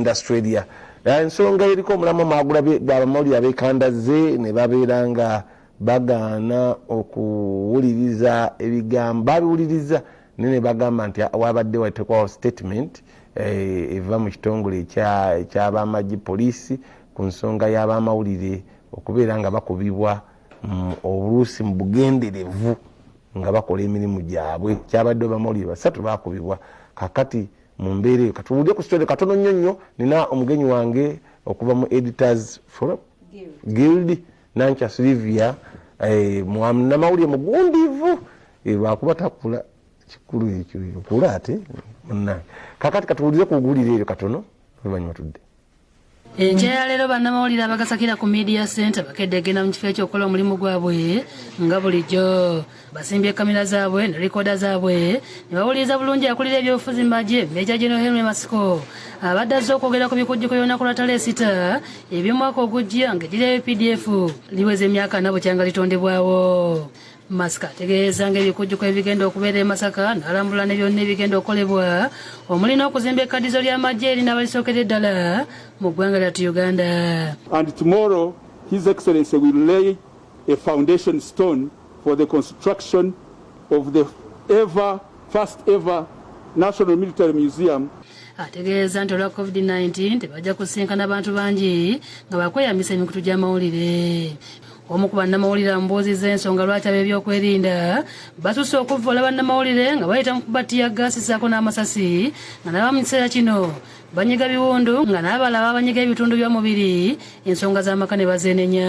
Australia ensonga eriko omulamu maagula gwabamawulire abekandazze ne babeera nga bagaana okuwuliriza ebigambo babiwuliriza naye ne bagamba nti ah, wabadde watekwawo statement eh, eva mu kitongole ekyabamagye poliisi ku nsonga y'abamawulire okubeera nga bakubibwa mm, obuluusi mu bugenderevu nga bakola emirimu gyabwe kyabadde obamawulire basatu bakubibwa kakati mu mbeera eyo katuwulire ku story katono nnyo nnyo nina omugenyi wange okuva mu editors forum guild nankya silivia eh, namawulire mugundiivu eh, lwakuba takula kikulu ekyo okula ate munange kakati katuwulire ku guwulire eryo katono luvannyuma tudde enkya ya leero bannamawulire abagasakira ku media center bakedde egenda mu kifo ekyokukola omulimu gwabwe nga bulijjo basimbye kamera zaabwe ne likoda zaabwe ne bawuliriza bulungi akulira ebyobufuzi mbaje meja geno henry masiko abadde azze okwogera ku bikujjuko by'olunaku lwa taleesita eby'omwaka ogujja ng'eddirayo pdf liweza emyaka ana bukyanga litondebwawo Masika ategeeza ng'ebikujjuko ebigenda okubeera e Masaka n'alambula ne byonna ebigenda okukolebwa omuli n'okuzimba ekkaddizo ly'amagye eri n'abalisookera eddala mu ggwanga lyattu Uganda. And tomorrow His Excellency will lay a foundation stone for the construction of the ever first ever National Military Museum ategeeza nti olwa covid-19 tebajja kusinkana bantu bangi nga bakweyambisa emikutu gy'amawulire omu ku bannamawulire amubuuzizza ensonga lwaki ab'ebyokwerinda basusse okuvvoola bannamawulire nga bayita mu kuba ttiya gaasi ssaako n'amasasi nga naba mu kiseera kino banyiga biwundu nga n'abala babanyiga ebitundu by'omubiri ensonga z'amaka ne bazeenenya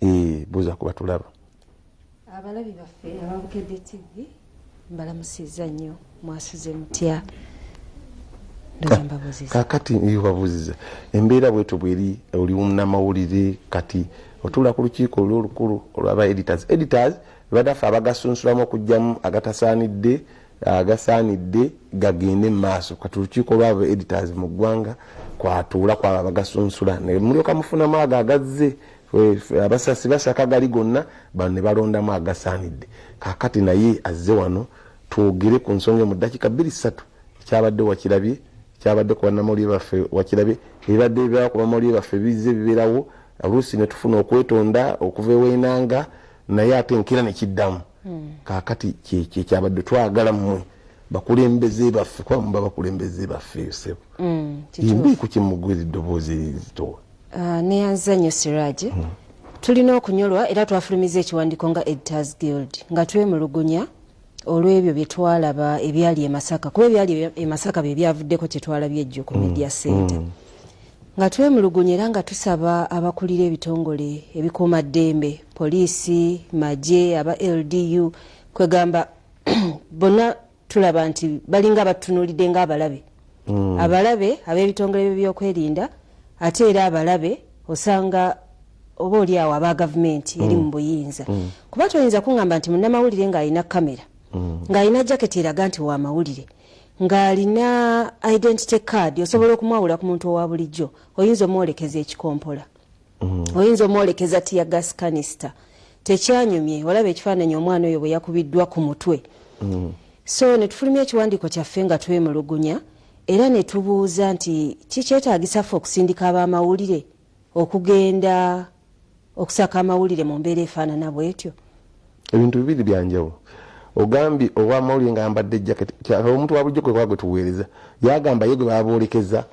eh, buuza kuba tulaba abalabi baffe ababukedde tv mbalamusiza nnyo mwasuze mutya kakati babuziza embeera bwetyo bweri oli namawulire kati otuula ku lukiiko oli olukulu olwaba editors editors badaffe abagasunsulamu okugyamu agatasaanidde agasaanidde gagende mu maaso kati olukiiko lwaba editors mu ggwanga kwatuula kwabo abagasunsula ne mulyoka mufunamu ago agazze abasasi basaka gali gonna bano ne balondamu agasaanidde kakati naye azze wano twogere ku nsonga mu ddakiika bbiri ssatu ekyabadde wakirabye kyabadde ku bannamawulire baffe wakirabye ebibadde bibeerawo ku bamawulire baffe bizze bibeerawo oluusi ne tufuna okwetonda okuva ewenanga naye ate nkira ne kiddamu hmm. kakati kyekyabadde twagala mmwe bakulembeze baffe kuba muba bakulembeze baffe sebo hmm, imbi ku kimugwira eddoboozi zitowa ah, neyanziza nnyo siraje hmm. tulina okunyolwa era twafulumiza ekiwandiiko nga editors guild nga twemulugunya olw'ebyo bye twalaba ebyali e masaka kuba ebyali e masaka bye byavuddeko kye twalabye ejjo ku media center nga twemulugunya era nga tusaba abakulira ebitongole ebikuuma ddembe poliisi magye aba ldu kwegamba bonna tulaba nti balinga batunulidde nga abalabe mm. abalabe ab'ebitongole byebyokwerinda ate era abalabe osanga oba oli awo aba gavumenti eri mu mm. buyinza mm. kuba toyinza kuŋamba nti munnamawulire ng'alina kamera mm. ng'alina jaketi eraga nti wa mawulire mm. ng'alina identity card osobola okumwawula ku muntu owa bulijjo oyinza omwolekeza ekikompola mm. oyinza omwolekeza tiya gas canister tekyanyumye olaba ekifaananyi omwana oyo bwe yakubiddwa ku mutwe mm. so ne tufulumya ekiwandiiko kyaffe nga twemulugunya era ne tubuuza nti kikyetaagisa ffe okusindika ab'amawulire okugenda okusaka amawulire mu mbeera efaanana bwetyo ebintu bibiri byanjawulo ogambye owamawulire nga ambadde jacket omuntu wabulijjo kwekuba gwe tuweereza yagamba ye gwe baboolekeza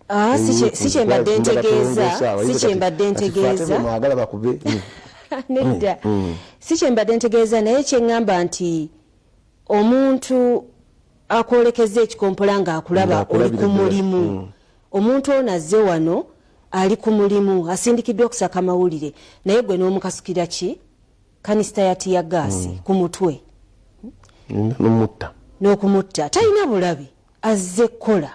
ah, sikyembadde ntegeeza sikyembadde ntegeeza mwagala bakube nedda mm, mm. sikyembadde ntegeeza naye kyeŋŋamba nti omuntu akwolekeza ekikompola ng'akulaba oli ku mulimu mm. omuntu ono azze wano ali ku mulimu asindikiddwa okusaka mawulire naye gwe n'omukasukira ki kanisita ya tiya gaasi mm. ku mutwe n'okumutta talina bulabe azze kola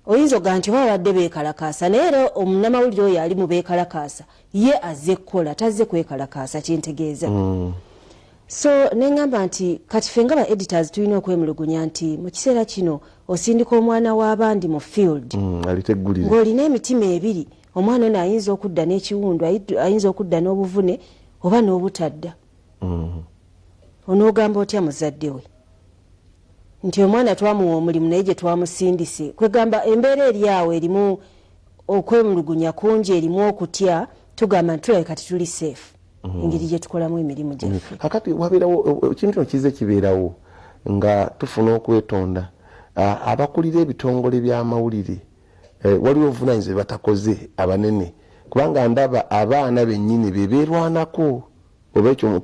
oyinza oga nti oba babadde bekalakaasa naye era omunamawulire oyo ali mu bekalakaasa ye azze kukola tazze kwekalakaasa kyentegeeza mm. so neŋamba nti kati fe nga ba editors tulina okwemulugunya nti mu kiseera kino osindika omwana w'abandi mu field mm, ng'olina emitima ebiri omwana ono ayinza okudda n'ekiwundu ayinza okudda n'obuvune oba n'obutadda mm. onoogamba otya muzadde we nti omwana twamuwa omulimu naye gye twamusindise kwegamba embeera eri awo erimu okwemulugunya kungi erimu okutya tugamba nti tulabika tetuli safe mm. engeri gye tukolamu emirimu mm. gyaffe kakati wabeerawo ekintu kino kize kibeerawo nga tufuna okwetonda abakulira ebitongole by'amawulire e, waliwo obuvunanyizibwa bye batakoze abanene kubanga ndaba abaana bennyini be beerwanako oba ekyo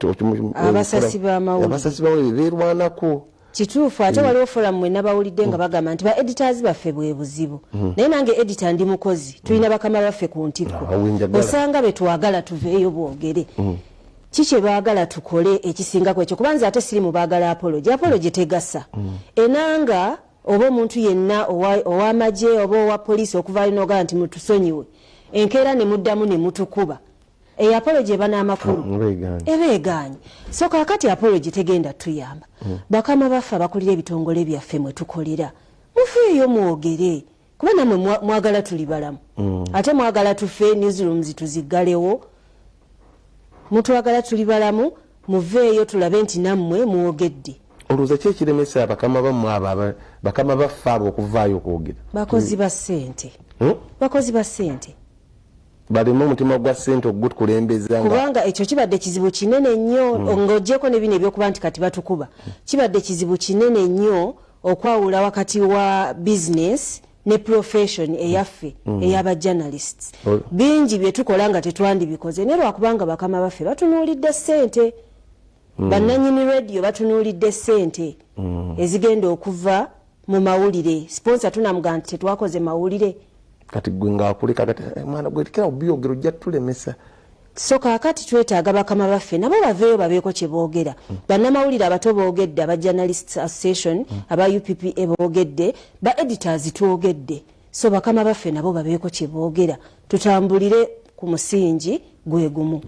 abasasi bamawuliabasasi bamawulire beerwanako kituufu ate mm. waliwo forum mwe nabawulidde nga mm. bagamba nti ba editors baffe bwe buzibu mm. naye nange edita ndi mukozi tulina mm. bakama baffe ku ntikko ah, osanga betwagala tuveeyo bwogere mm. ki kyebaagala tukole ekisingako ekyo kubanza ate siri mu baagala apologi apologi mm. tegasa mm. enanga oba omuntu yenna owamagye oba owa poliisi okuvayo nogaa nti mutusonyiwe enkeera ne muddamu ne mutukuba eyo apology eba n'amakulu mm, eba egaanyi so kakati apology tegenda tuyamba mm. bakama baffe abakulira ebitongole byaffe mwe tukolera mufeeyo mwogere kuba namwe mwagala tuli balamu mm. ate mwagala tufe newsrooms tuziggalewo mutwagala tuli balamu muveeyo tulabe nti nammwe mwogedde olowooza ki ekiremesa bakama bammwe abo bakama baffe abo okuvaayo okwogera bakozi ba ssente hmm? bakozi ba ssente baleme omutima gwa sente okugutukulembeza kubanga ekyo kibadde kizibu kinene nnyo mm. ng'ogyeko ne bino ebyokuba nti kati batukuba kibadde kizibu kinene nnyo okwawula wakati wa bizinesi ne profession eyaffe mm. mm. eyaba journalists oh. bingi bye tukola nga tetwandibikoze naye lwakubanga bakama baffe batunuulidde sente mm. bannanyini radio batunuulidde sente mm. ezigenda okuva mu mawulire sponsor tunamuga nti tetwakoze mawulire kati gwe ngakuleka kati eh, mwana gwe kila obyogero ojja tulemesa so kakati twetaaga bakama baffe nabo baveeyo babeeko kye boogera mm. bannamawulire abato boogedde aba journalist association mm. aba uppa boogedde ba editors twogedde so bakama baffe nabo babeeko kye boogera tutambulire ku musingi gwegumu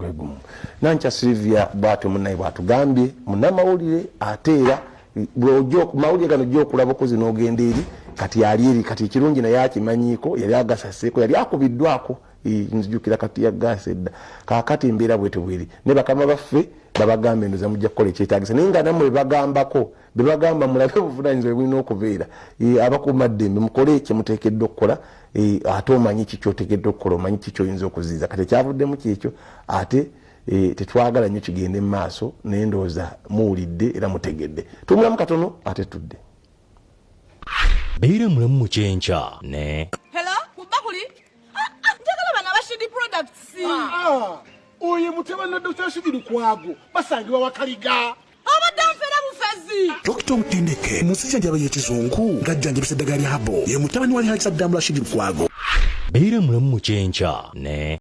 nankya silivia bwatyo munaye bwatugambye munamawulire ate era mawulire gano ojja okulaba okozi nogenda eri kati yali eri kati ekirungi naye akimanyiiko yali agasaseeko yali akubiddwako nzijukira kati yagaasa edda kakati embeera bwetebweri naye bakama baffe babagambe ndoza mujja kukola ekyetagisa naye nga namwe bagambako bebagamba mulabe obuvunanyizibwa bulina okubeera e, abakuuma ddembe mukole kyemutekedde okukola e, ate omanyi kikyotegedde okukola omanyi kikyoyinza okuziiza kati ekyavuddemu kyekyo ate e, tetwagala nyo kigende mu maaso naye ndowooza muwulidde era mutegedde tumulamu katono ate tudde beera mulamu mukyenkya ne ah, ah, oyo mutabani wa dr shidi lukwago basangibwa wakaliga Dokita omutendeke mu nsi jjanjaba y'ekizungu ng'ajjanjabisa eddagala lya habo ye mutabani wa Lihaki Saddamu Rashid Lukwago. Beera mulamu mu kyenkya ne